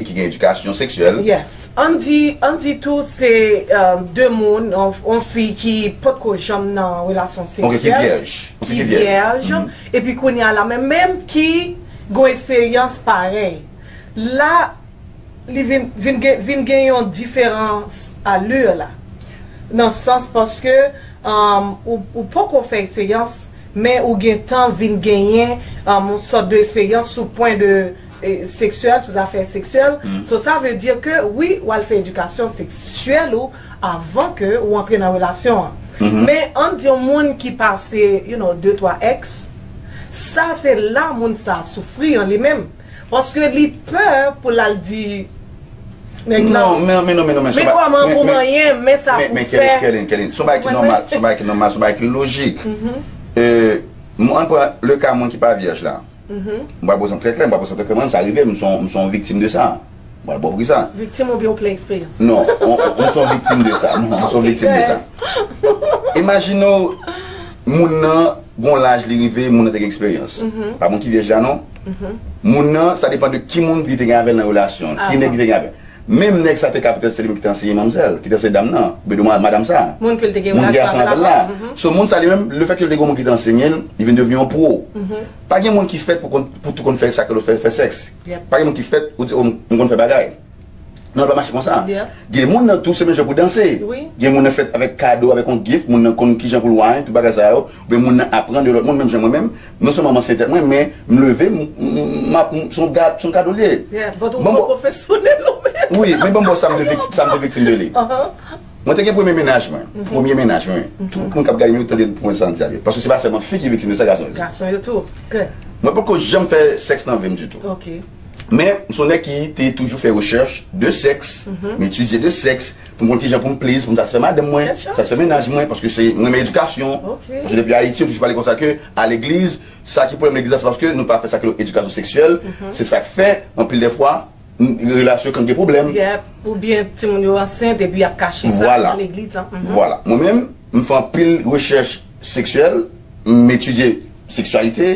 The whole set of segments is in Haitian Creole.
ki gen edikasyon seksyèl. Yes. Ann di, ann di tou se de moun, yon fi ki potko janm nan relasyon seksyèl. Ok, ki vyèj. Ki vyèj. Epi kounya la menm menm ki gon esperyans parèy la li vin vin gen vin gen yon diferans allure la nan sans paske ou poko fè eksperyans men ou gentan vin genyen yon sòt de esperyans sou pwen de seksyèl sou zafè seksyèl so sa vle di ke wi wal fè edikasyon seksyèl ou avan ke ou antre nan relasyon an men ann di yon moun ki pase you know de twa ex sa se la moun sa soufri an li menm paske li pè pou l al di nèg lan men kòman pou manyen men sa pou fè men kèlin kèlin son bagay ki nòmal son bagay ki nòmal son bagay ki lojik euh ann pran le ka moun ki pa vyèj la mwen ba poze yon trè klè mwen ba poze yon trè klè mwen menm sa rive m m son yon viktim de sa. Mwen bon prisa. Viktim oubyen ou plen eksperyans? Non, mwen son viktim de sa. Non, mwen son viktim de sa. Imajine ou, moun nan, gon laj li rive, moun nan te gen eksperyans. Pa moun ki vyèj la non. Moun nan, sa depan de ki moun li te gen avèl nan relasyon. Ki nèg li te gen avèl. Menm nèg sa te ka petèt se li menm ki te anseye manmzèl, ki te anseye dam nan, oubyen dou madam sa. Moun ke li te gen relasyon avèl la. So moun sa li menm, le fèt ke li te gen yon moun ki te anseye'l, li vin devni yon pro. Pa gen moun ki fèt pou tout konn fè sa ke lòt fè, fè sèks. Pa gen moun ki fèt ou di oh m konn fè bagay. Non l pa mache konsa. Gen moun nan tou se menm jan pou danse. Gen moun nan fèt avèk kado, avèk yon gift, moun nan konn kijan pou l wany, tout bagay sa yo. Oubyen moun nan aprann de lòt moun menm jan mwen menm. Non sèlman m anseye tèt mwen men m leve m m ap se yon gad, se yon kado l ye. Banm bò Wi men banm bò sa m te viktim de li. Mwen te gen premye mennaj mwen, premye mennaj mwen, tout moun kap gade yo tande pou mwen san egzagere, paske se pa sèlman fi ki viktim de sa gason yo tou. Gason yo tou, kè. Mwen poko janm fè sèks nan vim ditou. Ok. Men, m son nèg ki te toujou fè rechèch de sèks, m etidye de sèks, pou m konn kijan pou m plezi, pou m satisfè madanm mwen, Kèt chaj. satisfè mennaj mwen, paske se, m renmen edikasyon, Ok. paske depi Ayiti yo toujou pale konsa ke a legliz, sa ki pwoblèm legliz la se paske nou pa fè sa ki rele edikasyon seksyèl, se sak fè, anpil de fwa, Relasyon kan gen pwoblèm. Yep, ou byen timoun yo ansent epi yap kache sa nan legliz la. Vwala, mwen menm, m fè anpil rechèch seksyèl, m etidye seksyalite,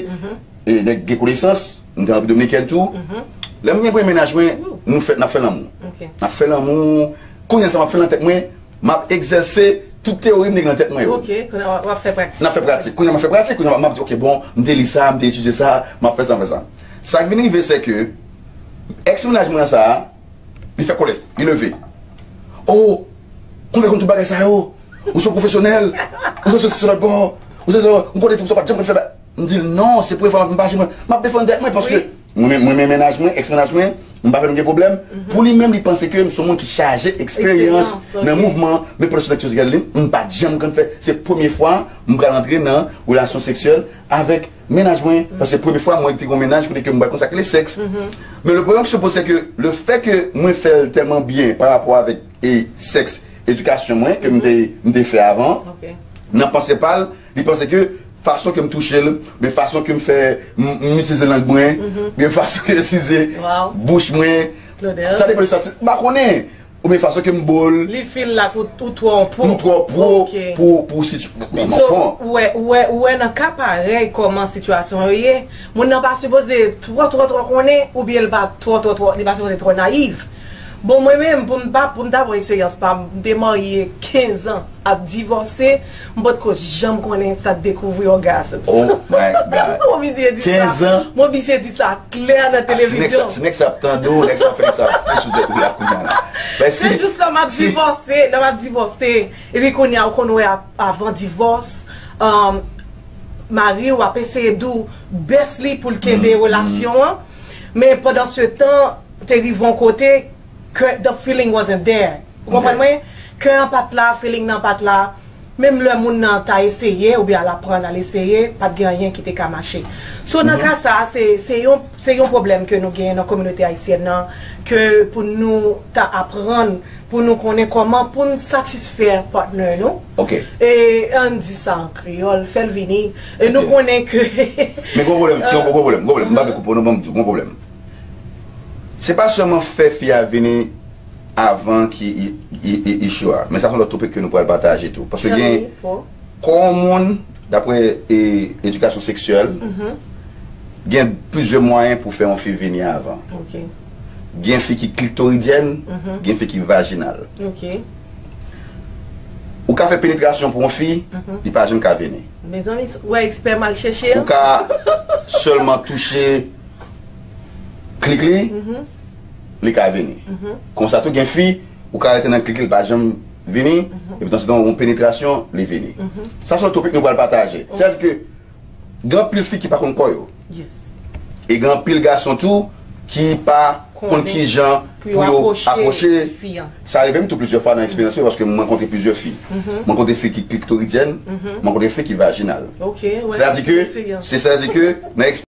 e nèk gen konesans, m gen anpil dominikèn tou. Lè m gen premye mennaj mwen, nou fè, nap fè lanmou. Nap fè lanmou, kounya sa map fè nan tèt mwen, map egzèse tout teyori m te gen nan tèt mwen yo. Ok, kounya wap fè pratik. Nap fè pratik. Kounya map fè pratik, kounya map di ok bon, m te li sa, m te etidye sa, map fè sa, m fè sa. Sak vin rive se ke. Ex mennaj mwen an sa a li fè kòlè, li leve Oh kòman fè konn tout bagay sa yo, ou son pwofesyonèl, ou son sosi son lòt bò, ou son son, m konnen tout sa w pa t janm konn fè ba. M di l non se premye fwa m ap m pa janm, m ap defann tèt mwen paske mwen men mwen men mennaj mwen, ex mennaj mwen, m pa vle nou gen pwoblèm, pou li menm li panse ke m son moun ki chaje eksperyans nan mouvman men pwòdksyon sèkswèl Gadeline m pa t janm konn fè, se premye fwa m pral antre nan relasyon seksyèl avèk. Mennaj mwen, sa se premye fwa mwen te gen mennaj kote ke mwen pa konn sa ki rele sèks. Men le pwoblèm ki se poze se ke le fè ke mwen fè l tèlman byen pa rapò avèk e sèks edikasyon mwen ke m te fè avan nan panse pa l, li panse ke fason ke m touche l, oubyen fason ke m fè m itilize lang mwen, oubyen fason ke m itilize bouch mwen, sa depan de sa, m pa konnen. Ou byen fason kem bo l. Li feel like ou twò pro. M twò pro pou sitiyasyon. Men nan fon. Ou wè ou wè nan ka parèy kòman sitiyasyon yo ye. Moun nan pa sipoze twò twò twò konnen ou byen li pa twò twò twò li pa sipoze twò nayiv. Bon mwen menm pou m ta pou m ta pran eksperyans pa m. M te marye 15 ans ap divòse. M pot ko janm konnen sa dekouvri orgasms. Oh my God. Mobidye di sa. 15 ans. Mobidye di sa klè nan televizyon. Si nèg sa ap tande w, nèg sa fè sa ap fou sou tèt ou la kounya la. Men si. Se jous lè map divòse, lè map divòse epi kounya ou konn wè avan divòs mari ou ap eseye di w best li pou l kenbe relasyon an men pandan se tan te rive yon kote ke the feeling wasn't there. Ou konprann mwen? Kè an pat la, feeling nan pat la, menm lè moun nan ta eseye oubyen al aprann, al eseye, pat gen anyen ki te ka mache. So nan ka sa, se se yon se yon pwoblèm ke nou gen nan kominote ayisyèn nan ke pou nou ta aprann pou nou konnen kòman pou n satisfè partner nou. Ok. E an n di sa an kreyòl, fè l vini. E nou konnen ke Men gon pwoblèm, gon pwoblèm, gon pwoblèm, m pa vle koupe w non, men m di w gon pwoblèm. Se pa sèlman fè fi a vini avan ki issue a men sa son lòt topic ke nou pral pataje tou paske gen kò yon moun daprè edikasyon seksyèl gen plizyè mwayen pou fè yon fi vini avan gen fi ki klitoridyen gen fi ki vajinal ou ka fè penetrasyon pou yon fi li pa janm ka vini ou ka sèlman touche klik li li ka vini. Konsa tou gen fi, ou ka rete nan klik li pa janm vini, epi nan sedan yon penetrasyon li vini. Sa se yon topik nou pral pataje. Sa di ke gen anpil fi ki pa konn kò yo. E gen anpil gason tou ki pa konn ki jan pou yo apwoche fi an. Sa rive m tou plizyè fwa nan eksperyans mwen paske m rankontre plizyè fi. M rankontre fi ki kliktoridyèn, m rankontre fi ki vajinal. Se ta di ke nan eksperyans.